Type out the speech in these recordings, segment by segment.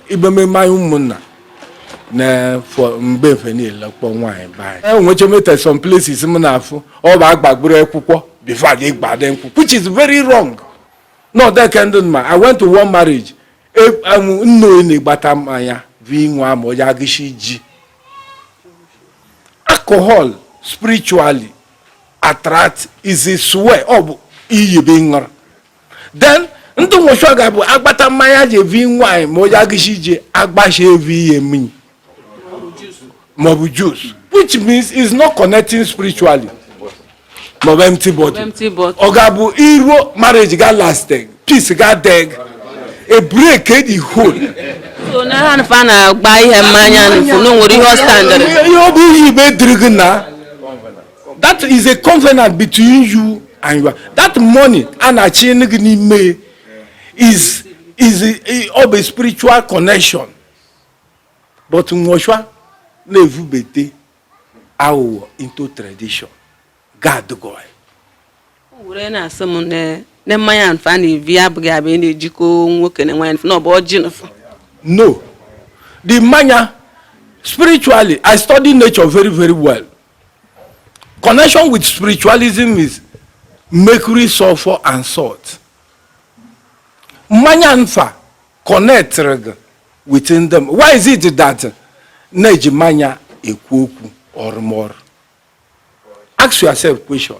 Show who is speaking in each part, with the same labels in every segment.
Speaker 1: ibe mmemme anyị ụmụnna na mgbe mfe niile kpọ nwaanyị be anyị enwecha meta some places m na-afụ ọ bụ agbaburu akwụkwọ before je gbade nkwụ which is very wrong not that kind of man i went to one marriage e, um, nna onye na-egbata mmanya vi nwa ma onye agụchi ji alcohol spiritually attract is a swear ọ bụ iyi be ṅụrụ then ndị nwụchọ ga-abụ agbata mmanya ji evi nwaanyị ma onye agụchi ji agbacha evi ihe mmiri maọbụ juice which means is not connecting spiritually maọbụ empty body ọ ga-abụ iruo marriage ga lastịghị peace ga-adịghị a break the whole so na ha nfa na-agba ihe mmanya nfu na nwere ihe ọ standịrị ihe ọ bụ ihe ibe dịrị gị na that is a covenant between you and your that money a na-achị gị n'ime is is ọ bụ spiritual connection but nwa ọcha na-evubete aghụghọ into tradition gad goy were na-asị m na mmanya nfa na-ebi abụghị abụ ihe na-ejikọ nwoke na nwaanyị na ọ bụ ọjị nfa no the mmanya spiritually i study nature very very well Connection with spiritualism is mercury, sulfur and salt. Mmanya nfa connectịrị gị within them. Why is it that na-eji mmanya ekwu okwu ọrụmọrụ? Ask yourself question.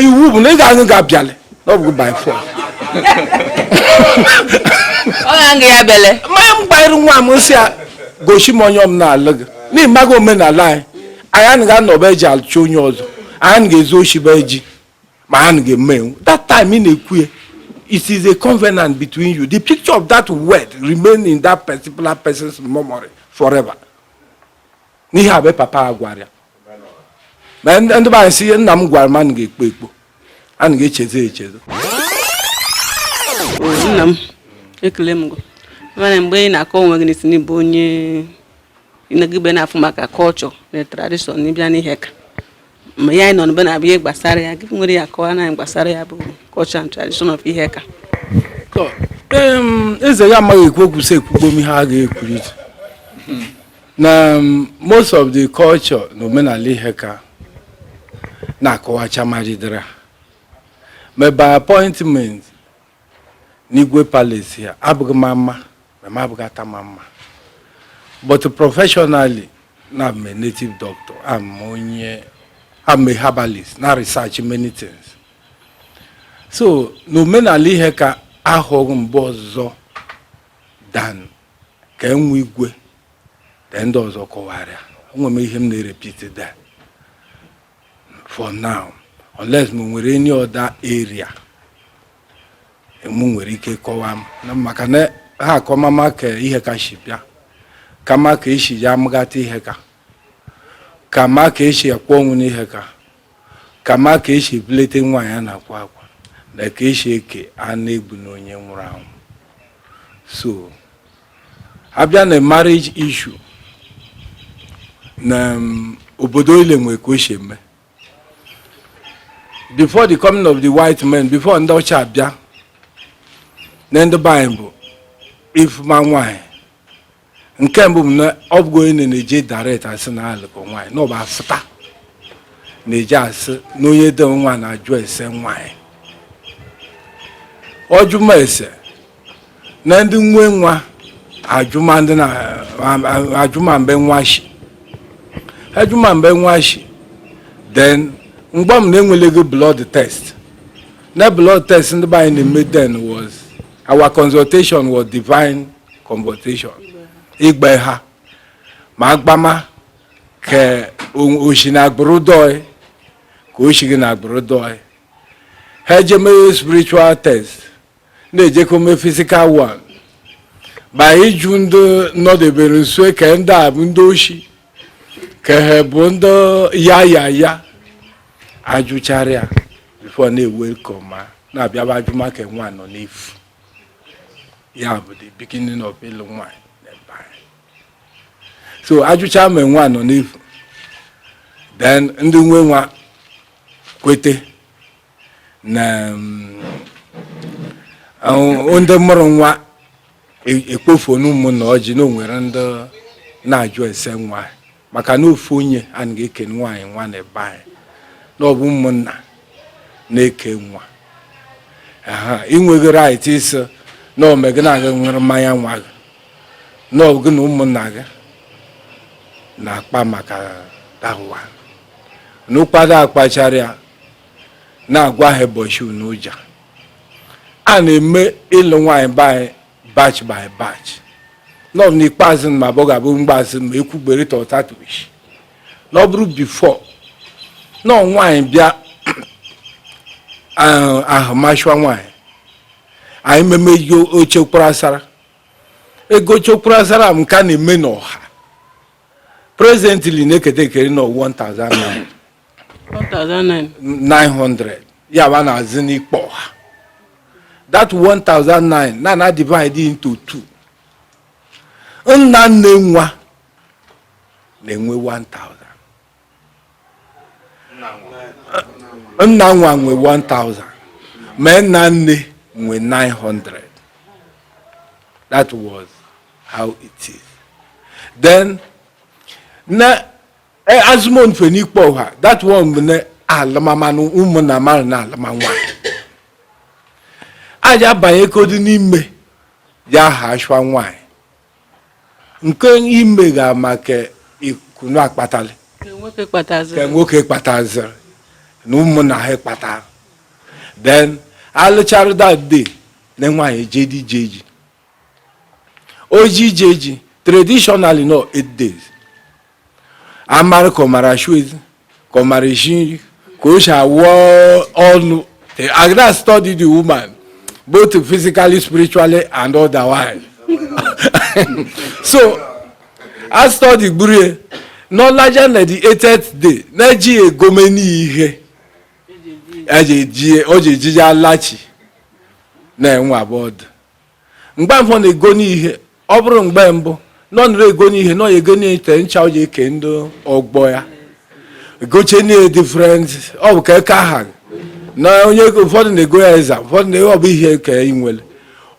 Speaker 1: iwu bụ na ị ga-aṅụ gị abịalị ọ bụ by force ọ ga-aṅụ ya bele mmanya m gbanyere nwa m sị ya gosi m onye m na-alụ gị n'ịmaghị omenala anyị anyị anaghị anọba eji alụcha onye ọzọ anyị anaghị ezu oshi be ji ma anyị anaghị eme enwu that time ị na-ekwu ya it is a covenant between you the picture of that word remain in that particular person's memory forever n'ihe a bụ papa a gwara ya ma ndị be anyị si ihe nna m gwara m anaghị ekpo ekpo anaghị echezo echezo nna m ekele m mana mgbe ị na-akọ onwe gị na ị sị n'ịbụ onye ịnagịbe na-afụ maka culture na tradition n'ịbịa n'Iheaka ma ya anyị nọ n'ebe na-abụ ihe gbasara ya gị nwere ya kọwa na gbasara ya bụ culture and tradition of Iheaka eze ya amaghị ekwu okwu sị ekwugbom ihe a ga-ekwuru na most of the culture na omenala Iheaka na-akọwacha maridara ma by appointment n'igwe palace ya abụghị ma mma ma m abụghị Atama mma but professionally na I'm a native doctor am onye I'm a herbalist na research many things so na omenala Iheaka ahụghị mbe ọzọ than ka enwe igwe ka ndị ọzọ kọwara enwe m ihe m na-erepeat that for now unless ma e nwere any other area mụ nwere ike kọwaa m maka na ha akọmama ka Iheaka si bịa kama ka esi ya amụgata Iheaka kama ka esi akwa ọnwụ n'Iheaka kama ka esi ebulite nwaanyị a na-akwa akwa na ka esi eke anụ egbu na onye nwụrụ anwụ so a bịa na marriage issue na um, obodo ile nwe ka o si eme before the coming of the white men before ndị ọcha abịa na ndị be anyị bụ ịfụma nwaanyị nke mbụ bụ na ọ bụghị onye na-eje direct asị na alụkọ nwaanyị na ọ bụ afụta na-eje asị na onye dị nwa na-ajụ ese nwaanyị ọjụma ese na ndị nwe nwa ajụma mbe nwa shi ajụma mbe nwa shi then mgbe m na e nwelegị blood test na blood test ndị be anyị na-eme then was our consultation was divine consultation ịgba eha ma a gbama ka o shi na agbụrụ dị ọyị ka o shigị na agbụrụ dị ọyị ha ejemeghe spiritual test na-ejekọ mee physical one bụ ịjụ ndị nọdebere nso ka ndị a bụ ndị oshi ka ha bụ ndị ya ya ya ajụchara ya before na-ewe ka ọma na-abịaba ajụma ka nwa nọ n'efu ya bụ the beginning of ịlụ nwaanyị so ajụcha ma nwa nọ n'efu then ndị nwe nwa kwete na um, ndị mụrụ nwa e-, ekpofuonụ ụmụnna ọjị na onwere ndị na-ajụ ese nwa maka na ofu onye anaghị eke nwaanyị nwa na ebe anyị na ọ bụ ụmụnna na-eke nwa ị nweghị right ịsị na onwe gị na-aga nwere mmanya nwa gị na ọ gị na ụmụnna gị na-akpa maka dawa n'ụkwado akpachara ya na-agwa ha ụbọchị unu ụja a na-eme ịlụ nwaanyị be anyị batch by batch nọ n'ikpeazụ ma abụọ ga-abụ mgbaazụ ma ekwugbere tọtatoish na ọ bụrụ before na nwaanyị bịa ahụma ashwa nwaanyị anyị meme ihe oche kwara asara ego chekwara asara m ka na-eme n'ọha presently na-eketa ekere na 1000 naira 900 ya bụ na azị n'ikpe ọha that 1009 na a na-divide into two nna nne nwa na-enwe 1000 nna nwa nwe 1000 ma nna nne nwe 900 that was how it is then na Ee, azụmon fe n'ikpe ọha that one bụ na alụmamanụ ụmụnna mmadụ na alụma nwaanyị a ja-abanye kodu n'ime ya ha ashwa nwaanyị nke ime ga maka ikunu akpatali Nke nwoke ka kpataziri nwoke kpataziri na ụmụnna ha kpatara then alụchara that day na nwaanyị eje dị ije ji o ji eje ji traditionally no eight days amara ka ọ mara asụ ezi ka ọ mara esi nri ka o si awụ ọnụ a na-study the woman both physically spiritually and otherwise so a study gburu ya n'ọlaja na the eighth day na ji egomeni ihe o ji eje ji alachi na-enwe abụọ ọdụ mgbe ahụ ọ na-egoni ihe ọ bụrụ mgbe mbụ na ọ nụrụ egoni ihe na ọ ya egoni ite ncha o ji eke ndị ọgbọ ya gochie na different ọ bụ ka aka ha ụfọdụ na-ego ya eza ụfọdụ na ọ bụ ihe ka ị nwere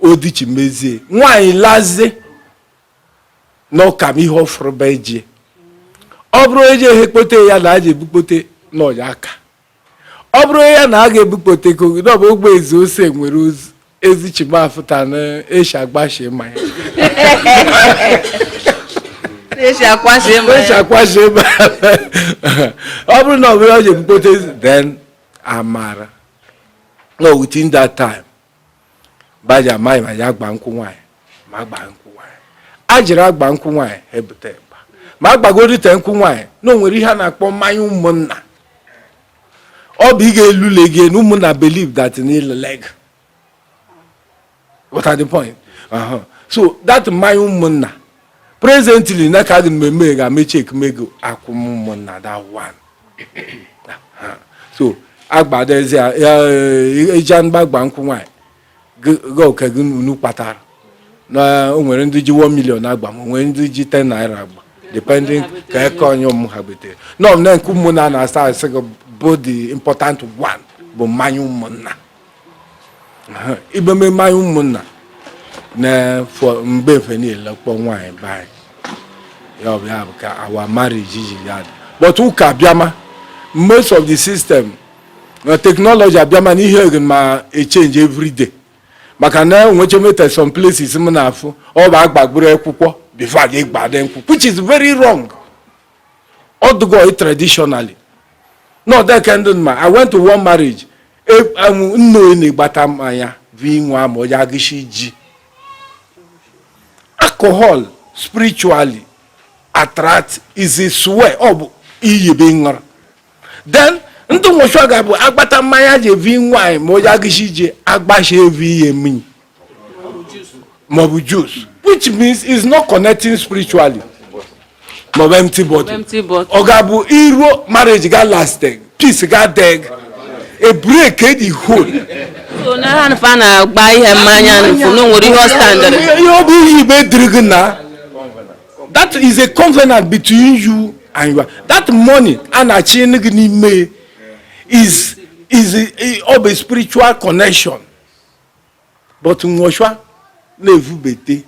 Speaker 1: odichi mezie nwaanyị lazie na ọ kama ihe ọ fụrụ be ji ọ bụrụ eji ehe kpote ya na a ja-ebukpote n'ọya aka ọ bụrụ ya na a ga-ebukpote ego gị n'ọbụ ogbe ezi ose nwere ozu ezi chimafụta na eshi agbashi ma ya eji akwasị ịma eshi ya akwashi ma ọ bụrụ na ọ bụrụ ya ọ ga-ebupụta ezi then amara no within that time baji amaghị ma ya agba nkwụ nwaanyị ma agba nkwụ nwaanyị a jiri agba nkwụ nwaanyị ebute mgba ma agbagorite nkwụ nwaanyị na o nwere ihe a na-akpọ mmanya ụmụnna ọ bụ ị ga-elule gị na ụmụnna believe that n'ile leg what are the point uh-huh. so that mmanya ụmụnna presently na ka gị mmemme ga mechi ekemego akwụ ụmụnna that one so agbadezi ya ịja e, e, mgbagba nkwụ nwaanyị gị oke ego unu kpatara na o nwere ndị ji 1 million agba ma nwere ndị ji 10 naira agba depending ka eka onye ụmụ ha betere nọ na nke ụmụnna na-asa asị gị bụ the important one bụ mmanya ụmụnna ibe mee mmanya ụmụnna na-efọ mgbe efe niile kpọ nwaanyị be anyị ya ọ bụ ya bụ ka our marriage ji adị but ụka abịama most of the system na technology abịama na ihe egin ma echange every day maka na enwechemeta some places m na-afụ ọ bụ agbagburu akwụkwọ before gị gbade nkwụ which is very wrong ọ dụghị traditionally na ọdeke ndụ ma i went to one marriage anwụ e, nna onye na-agbata mmanya bụ inwe ama onye agụchi ji alcohol spiritually attract is a swear ọ bụ iyi bụ ṅụrụ then ndụ nwụchụ ga-abụ agbata mmanya ji evunye nwaanyị ma onye agụchi ji agbachi evunye mmiri maọbụ juice which means is not connecting spiritually maọbụ empty body ọ ga-abụ iruo marriage ga last peace ga deg a break e the whole so na ha nfa na-agba ihe mmanya nfu na nwere ihe ọ standịrị ihe ọ bụ ihe igbe dịrị gị na that is a covenant between you and your that mmanya na-achị gị n'ime is is ọ bụ spiritual connection but nwọcha na-evubete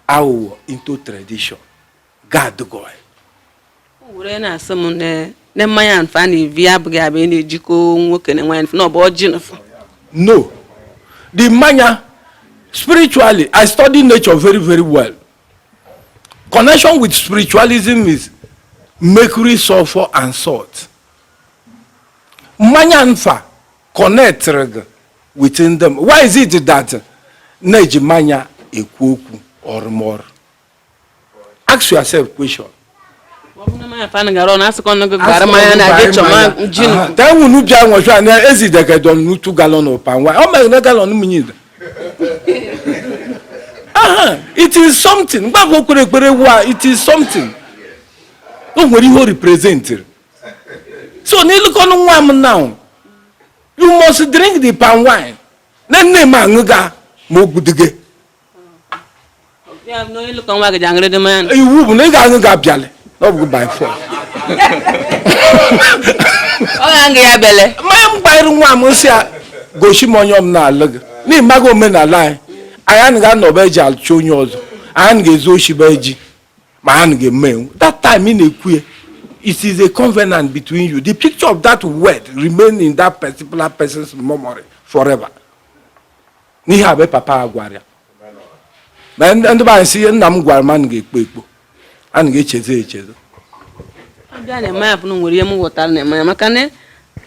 Speaker 1: aghụghọ into tradition gad goy were na-asị m na mmanya nfa na-evu abụghị ya bụ ihe na-ejikọ nwoke na nwaanyị na ọ bụ ọjị nfa no the mmanya spiritually i study nature very very well connection with spiritualism is mercury sulfur and salt mmanya nfa connectịrị gị within them why is it that na-eji manya ekwu okwu ọrụmọrụ ask yourself question tewunu bịa nwọcha na ezidegedon n'utu galọn ụpa nwa ọ mere na galọn mmiri aha it is something mgbakọ kwere ekpere wa it is something o nwere ihe o representịrị so n'ịlụkọnụ nwa m now you must drink the palm wine na nne m aṅụ ga ma ogwu dị gị iwu bụ na ị ga-aṅụ ga abịalị na ọ bụ by force ọ ga-aṅụ ya bele mmanya m gbanyere nwa m sị ya gosi m onye m na-alụ gị n'ịmaghị omenala anyị anyị anaghị anọ be ji achọ onye ọzọ anyị anaghị ezu oshi be ji ma ha ga-eme enwu that time ị na-ekwu ya it is a covenant between you the picture of that word remain in that particular person's memory forever n'ihe a bụ papa a gwara ya na ndị be anyị sị ihe nna m gwara m anaghị ekpo ekpo anaghị echezo echezo abịa na-eme ya bụrụ nwere ihe m ghọtara na-eme ya maka na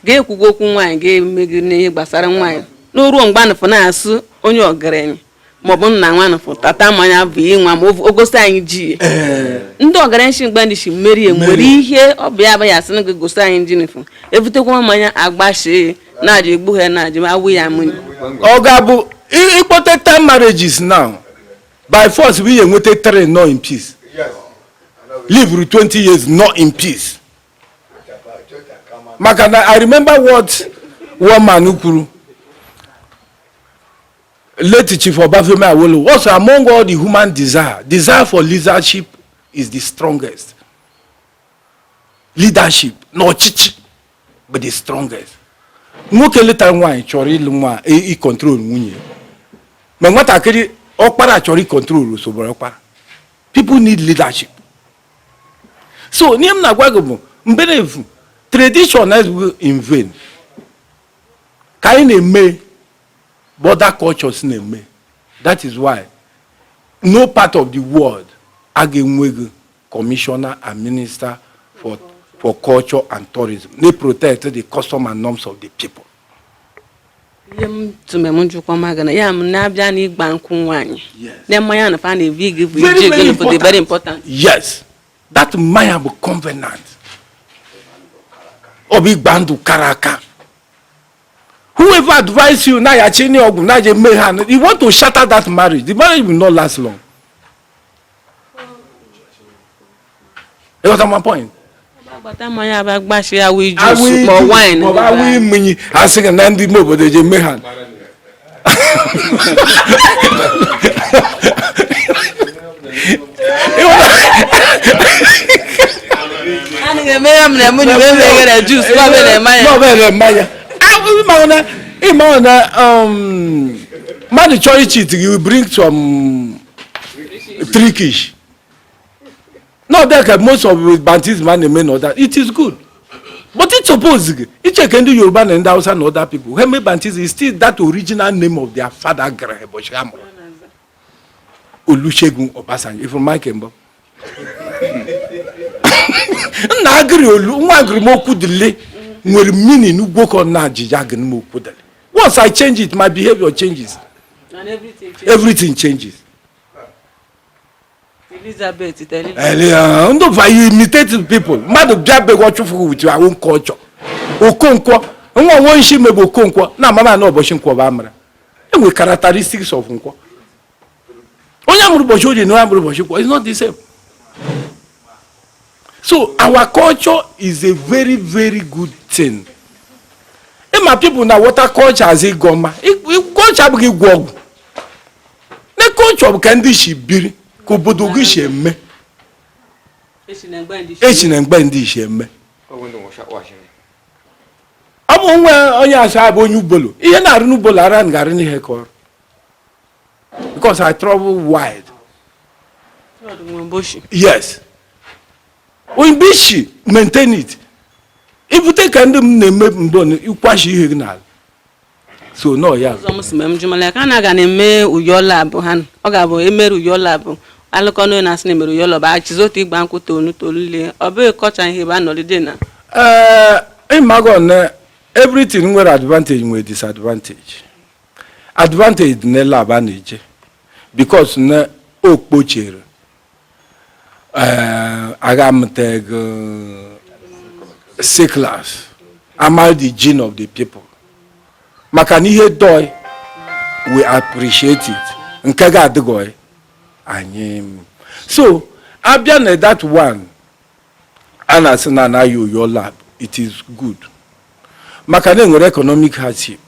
Speaker 1: ga-ekwugo okwu nwaanyị ga-eme n'ihe gbasara nwaanyị na o ruo mgbe anụfụ na-asị onye ọgaranya maọbụ nna nwanụ pụtata mmanya bunye nwa ma o gosi anyị ji ya ee ndị ọgaranya si mgbe ndị si mmeri ya nwere ihe ọ bụ ya bụ ya sị na gị gosi anyị ji nifụ ebutekwa mmanya agbachie na-aja egbu ha na-aja ma awụ ya mmiri ọ ga-abụ ị- ịkpọta ten marriages now by force bụ inweta three not in peace live through 20 years not in peace maka na i remember what one man kwuru Late Chief Obafemi Awolowo says among all the human desire. Desire for leadership is the strongest. Leadership na ọchịchị bụ the strongest. Nwoke lụtara nwaanyị chọrọ ịlụ nwa ịcontrol nwunye ma nwatakịrị ọkpara chọrọ ịcontrol osogboro ọkpara. People need leadership. So ihe m na-agwa gị bụ mberefu tradition na in vain ka anyị na-eme but the cultures na-eme that is why no part of the world a ga-enweghị commissioner and minister for for culture and tourism na-eprotect the custom and norms of the people. ihe m tụme m njụkwa maga na ya m na-abịa na ịgba nkwụ nwaanyị na mmanya na fa na-ebi gị bụ iji ego n'obodo very important. yes that mmanya bụ covenant ọ bụ ịgba ndụ kara aka whoever advise you na yachi ni ọgwụ na je mee ha you want to shatter that marriage the marriage will not last long ị ghọta my point. agbata mmanya abịa gbachie awụ iju ma wine. awụ mmiri a sị gị na ndị ime obodo je mee ha. ị ma na um, mmadụ chọọ ịcheat gị bring some trickish na ọ dị ka most of baptism a na-eme now it is good but it suppose gị icheke ndị yoruba na ndị hausa na other people ha eme baptism is still that original name of their father gụrụ ụbọchị ha mụrụ olusegun obasanjo ifuru mike mbọ nna agụrụ olu nwa agụrụ m okwudili nwere meaning ugwokọ na ajija agụrụ m okwudili once i change it my behavior changes everything changes Elizabeth Elizabeth. Ndị be anyị imitating people. Mmadụ bịa be gị ọ chụfụ with your own culture. Okonkwo. Nwa nwa nshi mebe Okonkwo. Na amama na ụbọchị nkwọ bụ amụra. Enwe characteristics of nkwọ. Onye amụrụ ụbọchị oye na onye amụrụ ụbọchị nkwọ is not the same. so our culture is a very very good thing ịma people na-awọta culture as ịgọ mma culture abụghị ịgwọ ọgwụ na culture bụ ka ndị isi biri ka obodo gị si eme esi na mgbe ndị isi eme ọ bụ nwe onye sị abụ onye ubolo ihe na-arụ n'ubolo ara na-arụ n'ihe ka ọrụ because I travel wide. Yes. Onyebuchi maintain it. Ibute ke ndị m na-eme mbọ ịkwashi ihe gị n'ala. So no ya. Ọzọ m si mee m jụmala ya ka a na-aga na-eme uyo labụ ha ọ ga-abụ emere uyo labụ alụkọ n'onye na-asị na emere uyo labụ achizi otu igba nkwụ tolu tolu lee ọ bụghị culture ihe ebe a nọlide na. Ee ịmago na everything nwere advantage nwere disadvantage. advantage dị na lab a na-eje because na o kpochere eh, aga amụtagụ sicklers amarị the gene of the people maka na ihe dị oyi we appreciate it nke ga-adịgị oyi anyị so abịa na that one a na-asị na anaghị oyo lab it is good maka na enwere economic hardship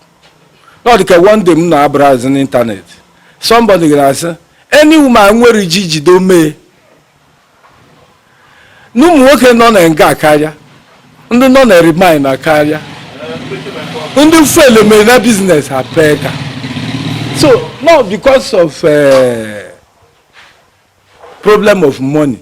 Speaker 1: na ọ dịka one day m na-abrowse n'internet somebody gara asị any woman nwere ji jide omee na ụmụ nwoke nọ na nga akarịa ndị nọ na remand akarịa ndị fele mere na business ha pee ka so not because of uh, problem of money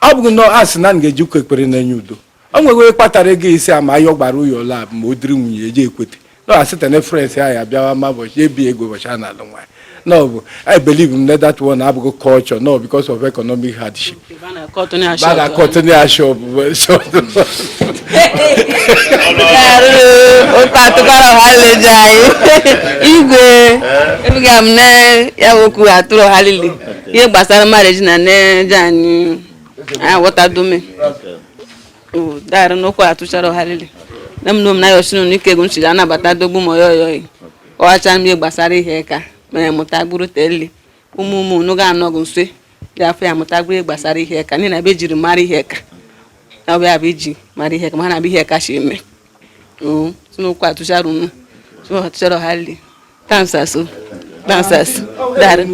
Speaker 1: ọ bụghị na a sị na m ga-eji ụka ekpere na-enye udo o nweghị onye kpatara ego isi ama ayọ gbara ụyọ ụlọ abụ ma o diri nwunye eji ekwete na e site na friends ahụ ya bịawa ma ụbọchị ebi ego ụbọchị a na-alụ nwaanyị na ọ bụ i believe m na that one abụghị culture no because of economic hardship bada kọtụnụ ya shop otu atụkwara ha leje anyị igwe ebuga m na ya bụ okwu atụrụ ha lile ihe gbasara marriage na na-eje anyị aghọtadume dara n'okwu atụchara ọharịrị na m na omenaya osinu na ike ego nchiri anabata dogbu ma oyoyoyi ọghacha m ihe gbasara ihe ka mere mụta gburu teli ụmụ ụmụ unu ga-anọgụ nso dị afọ ya mụta gburu ihe gbasara ihe ka n'ihi na be jiri mara ihe ka na ọ bụ ya bụ iji mara ihe ka ma ha na-abụ ihe ka si eme si n'okwu atụchara unu atụchara ọharịrị tansaso tansaso dara